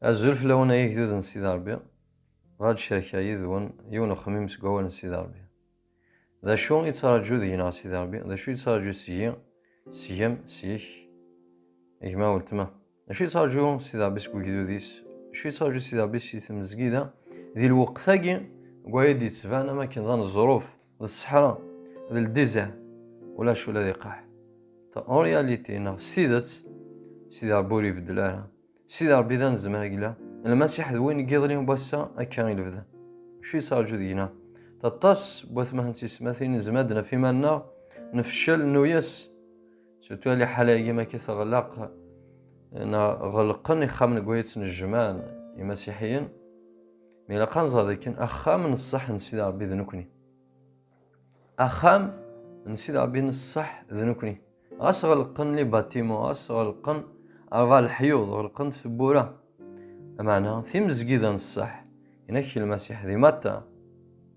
Azul fell-awen ay igdud n Sidi Ṛebbi. Bɣiɣ ad cerkeɣ yid-wen yiwen uxemmim seg wawal n Sidi Ṛebbi. D acu i yettṛaǧu deg-neɣ Sidi Ṛebbi? D acu i yettṛaǧu seg-i, seg-m, seg-k, gma, weltma? D acu i yettṛaǧu Sidi Ṛebbi seg ugdud-is? D acu i yettṛaǧu Sidi Ṛebbi si tmezgida? Di lweqt-agi, deg waya i d-yettban am wakken d aneẓruf. d ṣṣeḥra d ldizaɛ ulac ula d iqaḥ en réalité neɣ s tidet Sidi Ṛebbi ur ibeddel ara Sidi Ṛebbi d anezmar yella Lmasiḥ d win n yiḍelli n wass-a akka i lebda acu yettṛaju deg-neɣ aṭas n watmaha n tiyesmatin nezmer ad d-naf iman-nneɣ nefcel nuyes surtout a liḥala-agi ma k-teɣlaq neɣ ɣelqen ixxamen n wayet n jjman imasiḥiyen Mi ilaq ad nẓer dakken axxam n ṣṣeḥ n Sidi Ṛebbi d nekkni. Axxam n Sidi Ṛebbi n ṣṣeḥ d nekkni. Ɣas ɣelqen li batimo, ɣas ɣelqen rba leḥyuḍ, ɣelqen tewwura. Amaɛna, timezgida n ṣṣeḥ, inak Lmasiḥ di Matta.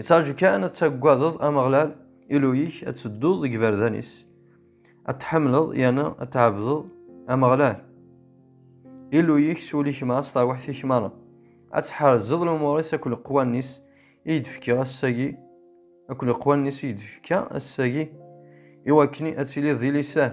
Ittraju kan ad tagadeḍ Ameɣlal Illu-ik, ad tedduḍ deg iberdan-is, ad tḥemmleḍ yerna ad tɛebdeḍ Ameɣlal Illu-ik s wul-ik meṛṛa, s terwiḥt-ik meṛṛa, ad tḥerzeḍ lumuṛ-is akked leqwanen-is i yi-d-fkiɣ ass-agi, akked leqwanen-is i yi-d-fekka ass-agi, iwakken ad tiliḍ di lisan.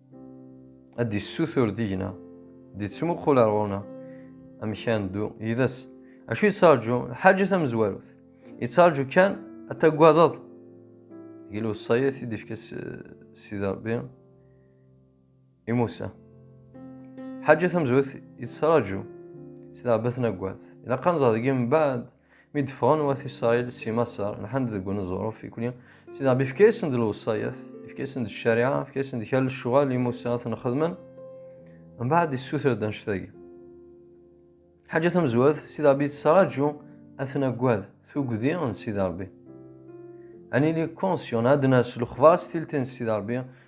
ad d-issutur deg-neɣ, d-ittmuqul ar ɣur-neɣ amek ara neddu yid-s. Acu yettṛaǧu? Lḥaǧa tamezwarut. Yettṛaǧu kan ad tagadeḍ. Deg lewṣayat i d-ifka Sidi Ṛebbi i Musa. Lḥaǧa tamezwarut yettṛaǧu. Sidi Ṛebbi ad ten-agad. Ilaq ad nẓer deg-i mbaɛd Mi d-ffɣen wat Isṛayil si Maṣer, lḥan-d deg uneẓruf, ikli, Sidi Ṛebbi ifka-yasen-d lewṣayat, ifka-yasen-d ccariɛa, ifka-yasen-d kra n lecɣal i Musa ad ten-xedmen, mbeɛd issuter-d annect-agi. Lḥaǧa tamezwarut, Sidi Ṛebbi yettraǧu ad ten-aggad, tuggdi n Sidi Ṛebbi. Ad nili conscient, ad d-nas lexbar s tilti n Sidi Ṛebbi,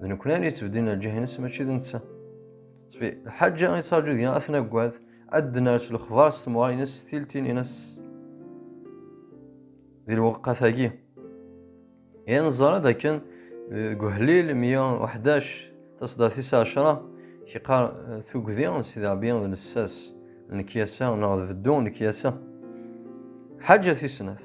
d nekkni ara yettbedin lǧah-nnes mačči d netta. Ttfi, lḥaǧa i ttṛaǧu deg-neɣ ad t-naggad, ad d-nerr s lexbar s temɣar-nnes s tiltin-nnes. Di lweqqa-tagi, i neẓra d akken deg uḥlil 111 taṣeddart-is ɛecra, k-iqqar tugdi n Sidi Ṛebbi d lessas n lekyasa neɣ d beddu n lekyasa. Ḥaǧa tis snat.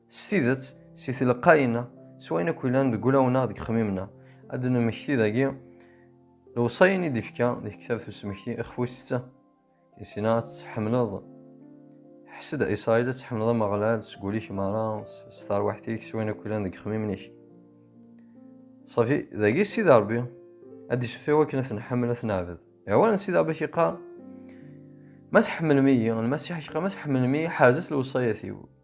S tidet, si tleqqayin-a, s wayen akk yellan deg wulawen-a deg xmim-na, ad d-nemmekti dagi lewṣayen i d-ifka deg ktabt usmekti ixfusett isina ad tḥemleḍ ḥsed a Israil ad tḥemleḍ Ameɣlal seg wul-ik meṛṛa s terwiḥt-ik s wayen akk yellan deg xmim-ik ṣafi dagi Sidi Ṛebbi ad d-iseffi wakken ad t-nḥemmel ad t-neɛbed awal n Sidi Ṛebbi k-yeqqar ma tḥemmlem-iyi Lmasiḥ k-yeqqar ma tḥemmlem-iyi ḥerzet lewṣayat-iw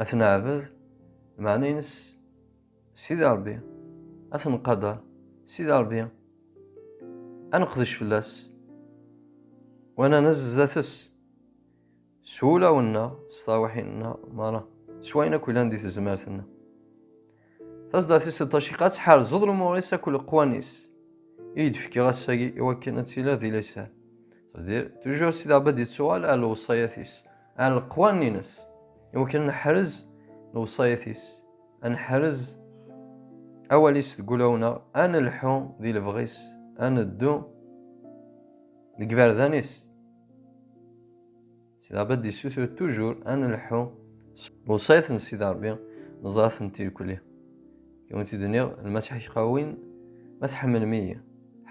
Ad ten-neɛbed, meɛna-ines Sidi Ṛebbi, ad ten-nqader Sidi Ṛebbi, ad neqdec fell-as u ad nanez zdat-s s wulawen-nneɣ, s terwiḥin-nneɣ meṛṛa, s wayen akk yellan di tezmert-nneɣ. Tasdatis d taciqa ttḥerzeḍ lumuṛ-is akked leqwan-is i yi-d-fkiɣ ass-agi i wakken ad tiliḍ di lisan. C'est-à-dire, toujours Sidi Rebbi ad d-yettuɣal ar lewṣayat-is, ar leqwanen-ines, i wakken ad neḥrez lewṣayat-is, ad neḥrez awal-is deg ulawen-aɣ, ad nelḥu di lebɣi-s, ad neddu deg iberdan-is. Sidi Rebbi d-yessutur tujur ad nelḥu s lewṣayat n Sidi Rebbi, neẓra-t n tirkli. I wen-t-id-nniɣ, Lmasiḥ iqawin, Ma tḥemmlem-iyi,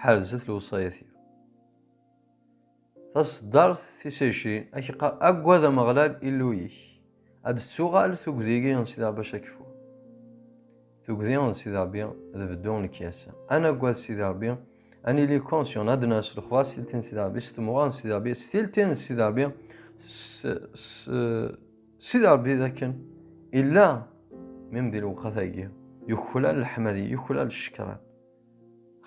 ḥerzet lewṣayat-iw. Taṣeddart tis ɛecrin, ad k-iqqar, Aggad Ameɣlal Illu-ik, Ad d-tettuɣal tugdi-agi n Sidi Rebbi Acakfu. Tugdi n Sidi Rebbi d beddu n lekyas. Ad naggad Sidi Rebbi, ad nili conscient, ad ners lexbar s tilti n Sidi Rebbi, s tmuɣa n Sidi Rebbi, s tilti n Sidi Rebbi, s Sidi Rebbi d akken illa mim di lewqat-agi, yuklal leḥmadi, yuklal ccekran.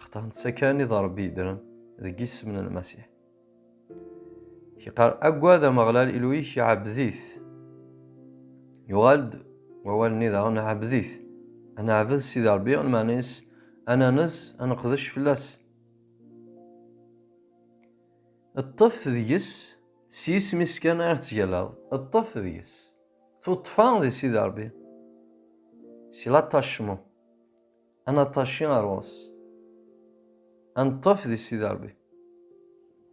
Xaṭer netta kan i d Rebbi yeddren deg yisem n Lmasiḥ. Iqar agad Ameɣlal Ilu-ik ɛebbed-it. Yuɣal-d wawal-nni daɣen ɛebbed-it. Ad neɛbed Sidi Ṛebbi, lmeɛna-is ad nanez, ad neqdec fell-as. Ṭṭef deg-s, s yisem-is kan ara tettgallaḍ, ṭṭef deg-s. Tuṭṭfa di Sidi Ṛebbi, si l'attachement. Ad naṭaci ar ɣur-s. Ad neṭṭef di Sidi Ṛebbi.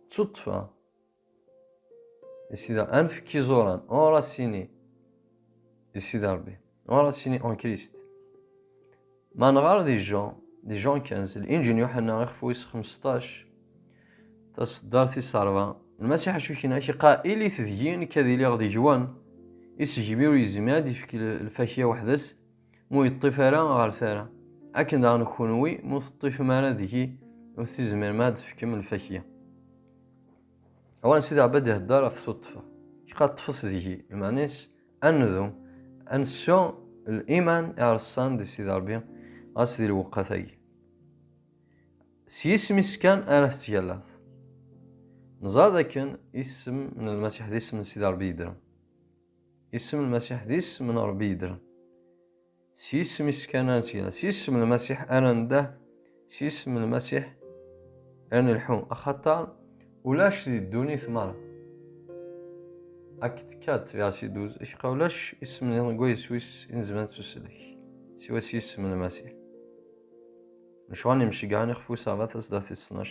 Ttuṭṭfeɣ di Sidi Ṛebbi. Ad nefk iẓuran, enraciner, di Sidi Ṛebbi. Enraciner en Christ. Ma nɣer di Jean, di Jean 15, Linǧil n Yuḥenna ixef wis xmesṭac, taṣeddart tis ṛebɛa, Lmasiḥ acu kien-ak iqaa ilit deg-i, nekk ad iliɣ deg-wen. Isegmi ur yezmir ad d-ifk lfakya weḥd-s, mu yeṭṭif ara ɣer tara, akken daɣen kunwi mu teṭṭifem ara deg-i ur tizmirem ad d-tefkem lfakya. Awan Sidi Ɛebad ihedder ɣef tuṭṭfa, iqa ṭṭfet deg-i, lmeɛna-is ad ndu, ad nessu liman iɛreṣṣan di Sidi Ṛebbi, ɣas di lweqqat-agi. S yisem-is kan ara tettgallaḍ. Neẓra dakken isem n Lmasiḥ d isem n Sidi Ṛebbi yeddren. Isem Lmasiḥ d isem n Ṛebbi yeddren. S yisem-is kan ara nettgalla, s yisem Lmasiḥ ara nedder, s yisem Lmasiḥ ara nelḥu, axaṭer ulac di ddunit meṛṛa. Acte 4, verset 12, Acqa ulac isem niḍen deg wayes wis i nezmer ad nettuslek, siwa s yisem Lmasiḥ. Lecɣal n yimceggɛen ixef wis rrbat asdaw tis ttnac,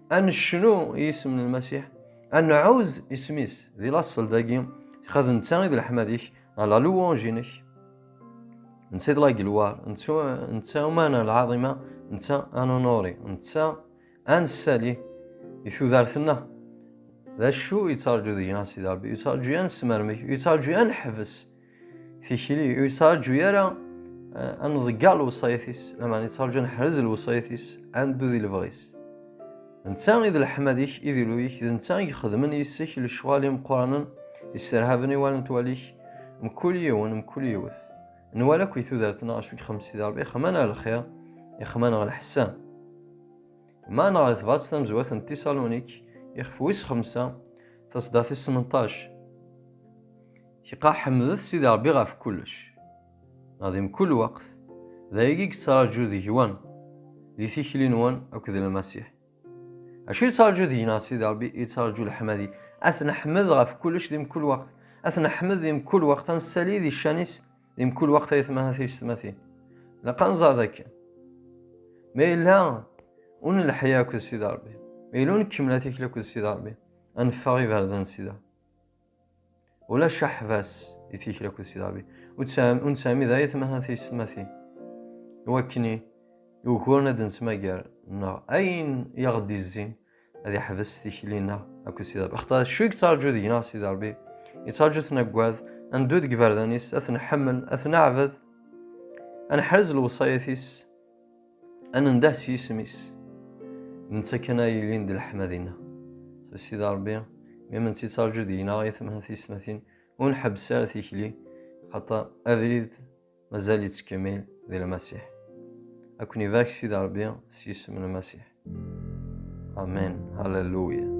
ad necnu i yisem n Lmasiḥ, ad nɛuz isem-is di laṣel dagi, xad netta i d leḥmad-ik, a la louange-inek. Netta i d la gelwar, netta umana lɛaḍima, netta ad nunuri, netta ad nessali i tudert-nneɣ. D acu yettṛaǧu deg-neɣ Sidi Ṛebbi? Yettṛaǧu ad nesmermek, yettṛaǧu ad neḥbes. tikli ur yettraǧu ara eh, ad nḍegger lewṣayat-is lameɛna yettraǧu ad neḥrez lewṣayat-is ad neddu di lebɣi-s netta i d leḥmad-ik i d ilu-ik d netta i ixedmen yis-k lecɣal imeqqranen yesserhaben i wallen twalik mkul yiwen mkul yiwet nwala akk i tudert-nneɣ acu ixemmem Sidi Ṛebbi ixemman ɣer lxir ixemman ɣer lḥessan ma neɣ di tebrat tamezwat n Tisalunik ixef wis xemsa tasdaɣt-is semenṭac Tiqaḥ ḥemdet Sidi Ṛebbi ɣef kullec. Neɣ di mkul weqt, d ayagi i yettraǧu deg-wen, di tikli-nwen akked Lmasiḥ. Acu yettraǧu deg-neɣ Sidi Ṛebbi? Yettraǧu leḥmadi. Ad t-neḥmed ɣef kullec di mkul weqt. Ad t-neḥmed di mkul weqt, ad nessali di ccan-is di mkul weqt, ay atmaten ak teysetmatin. Ilaq ad nẓer dakken ma yella ur nelḥi akked Sidi Ṛebbi, ma yella ur nkemmel atikli akked Sidi Ṛebbi, ad neffeɣ iberdan sida. ulac aḥbas i tikli akked Sidi Ṛebbi ur nesɛimi d ayetma ha tiyessetmatin iwakken yuguren ad nettmagar neɣ ayen i aɣ-d-izzin ad iḥbes tikli-nneɣ akked Sidi Ṛebbi axaṭer acu i yettṛaǧu deg-neɣ Sidi Ṛebbi yettṛaǧu-ten aggad ad neddu deg iberdan-is ad ten-nḥemmel ad ten-neɛbed ad neḥrez lewṣayat-is Ad nendah s yisem-is. Netta kan ay yelin d leḥma dinna. S Sidi Ṛebbi, mi menttiţarǧu deg-neɣ i temha tiyesmatin, ur nḥebbes ara tikli, xaṭer abrid mazal yettkemmil di Lmasiḥ. Ad ken-ibarek Sidi Ṛebbi s yisem n Lmasiḥ. Amen. Halleluya.